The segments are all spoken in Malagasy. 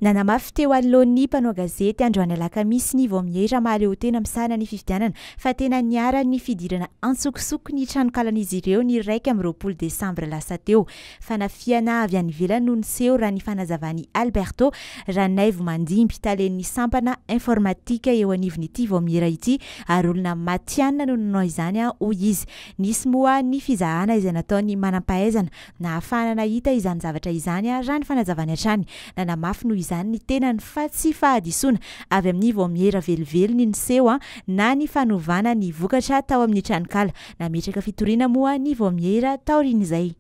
Nanamafy teo anoloan'ny mpanao gazety androany alakamisy ny Vaomiera Ramalihotena misahana ny fifidianana fa tena niharan'ny fidirana antsokosoko ny tranonkalan'izy ireo ny iraika amby roapolo desambra lasa teo. Fanafihana avy any ivelany no niseho raha ny fanazavan'i Alberto Ranaivomandimby, talen'ny sampana informatika eo anivon'ity Vaomiera ity ary olona matihanina no nanao izany hoy izy. Nisy moa ny fizahana izay nataon'ny manampahaizana Nahafahana nahita izany zavatra izany raha ny fanazavany hatrany. Nanamafy noho izany ny tenany fa tsy fahadisoana avy amin'ny vaomiera velively ny niseho na ny fanovana ny vokatra tao amin'ny tranonkala. Nametraka fitoriana moa ny vaomiera taorian'izay.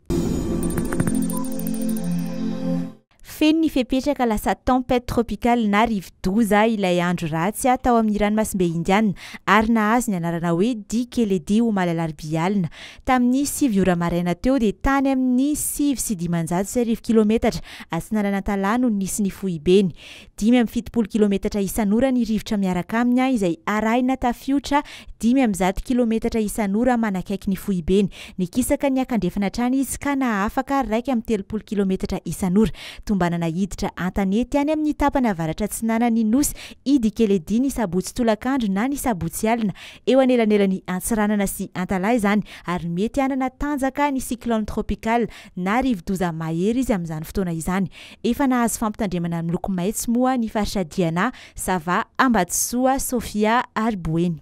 Feno ny fepetra ka lasa tempête tropicale na rivo-doza ilay andro ratsy tao amin'ny ranomasimbe Indiana ary nahazo ny anarana hoe Dikeledi omaly alarobia alina. Tamin'ny sivy ora maraina teo dia tany amin'ny sivy sy dimanjato sy arivo kilometatra atsinanan'Antalaha no nisy ny foibeny. dimy amby fitopolo kilometatra isan'ora ny rivotra miaraka aminy izay arahina tafiotra dimy amby zato kilometatra isan'ora manakaiky ny foibeny. Nikisaka niakandrefana hatrany izy ka nahafaka iraika amby telopolo kilometatra isan'ora. Tombanana hiditra an-tanety any amin'ny tapany avaratra-atsinanan'ny nosy Idi Keledi ny sabotsy tolakandro na ny sabotsy alina. Eo anelanelan'i Antsiranana sy Antalaha izany ary mety hanana tanjaka ny cyclone tropical na rivodoza mahery izy amin'izany fotoana izany. Efa nahazo fampitandremana miloko maitso moa ny faritra Diana, Sava, Ambatosoa, Sofia ary Boeny.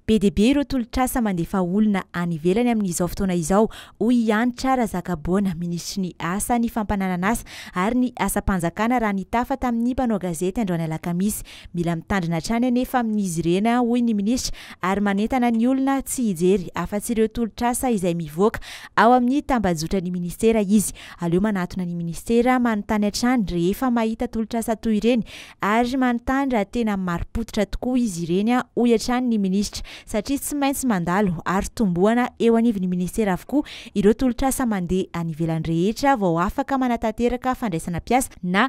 Be dia be ireo tolotr'asa mandefa olona any ivelany amin'izao fotoana izao, hoy i Hanitra Razakaboana, minisitry ny Asa, ny fampananan'asa ary ny asam-panjakana raha nitafa tamin'ny mpanao gazety androany alakamisy Mila mitandrina hatrany anefa amin'izy ireny, hoy ny minisitra, ary manentana ny olona tsy hijery afa-tsy ireo tolotr'asa izay mivoaka ao amin'ny tambajotran'ny minisitera izy. Aleo manatona ny minisitera, manontany hatrany rehefa mahita tolotr'asa toy ireny ary manontany raha tena marim-pototra tokoa izy ireny, hoy hatrany ny minisitra, satria tsy maintsy mandalo ary tombohana eo anivon'ny minisitera avokoa ireo tolotr'asa mandeha any ivelany rehetra vao afaka manatanteraka fandraisana mpiasa na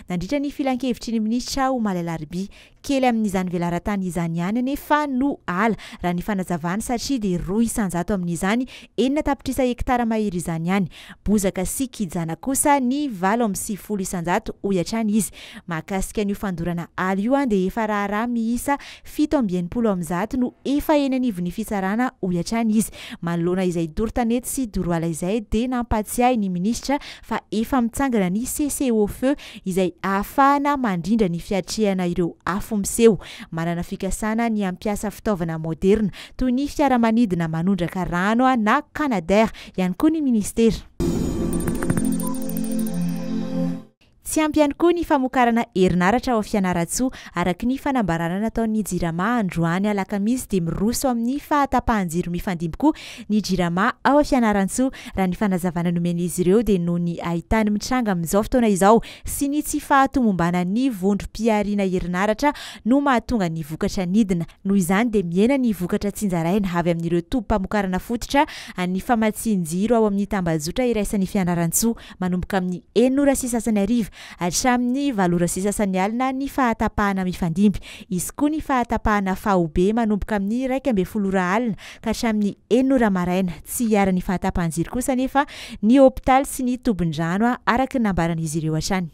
nandritra ny filankevitry ny minisitra aho omaly alarobia. Kely amin'izany velaran-tany izany ihany anefa no ala, raha ny fanazavany satria dia roa isan-jato amin'izany, enina tapitrisa hekitara mahery izany ihany. Bozaka sy kijana kosa ny valo amby sivifolo isan-jato, hoy hatrany izy. Mahakasika an'io fandorana ala io dia efa raharaha miisa Fito amby enimpolo amin'ny zato no efa eny anivon'ny fitsarana, hoy hatrany izy. Manoloana izay doro tanety sy doro ala izay dia nampahatsiahy ny minisitra fa efa mitsangana ny cessez-au-feu izay ahafahana mandrindra ny fiatrehana ireo afo miseho. Manana fikasana ny hampiasa fitaovana moderina toy ny fiaramanidina manondraka rano na Canadair ihany koa ny minisitera. Tsy ampy ihany koa ny famokarana herinaratra ao Fianarantsoa. Araka ny fanambarana nataon'ny Jirama androany alakamisy dia miroso amin'ny fahatapahan-jiro mifandimby koa ny Jirama ao Fianarantsoa. Raha ny fanazavana nomen'izy ireo dia noho ny haintany mitranga amin'izao fotoana izao sy ny tsy fahatomombanan'ny vondrom-pihariana herinaratra no mahatonga ny vokatra nidina. Noho izany dia mihena ny vokatra tsinjaraina avy amin'ireo tobim-pamokarana fototra an'ny famatsian-jiro ao amin'ny tambajotra iraisan'i Fianarantsoa. manomboka amin'ny enina ora sy sasany hariva hatramin'ny valo ora sy sasany alina ny fahatapahana mifandimby. Hisy koa ny fahatapahana faobe manomboka amin'ny iraika ambin'ny folo ora alina ka hatramin'ny enina ora maraina. Tsy hiharan'ny fahatapahan-jiro kosa anefa ny hopitaly sy ny tobin-drano, araka ny nambaran'izy ireo hatrany.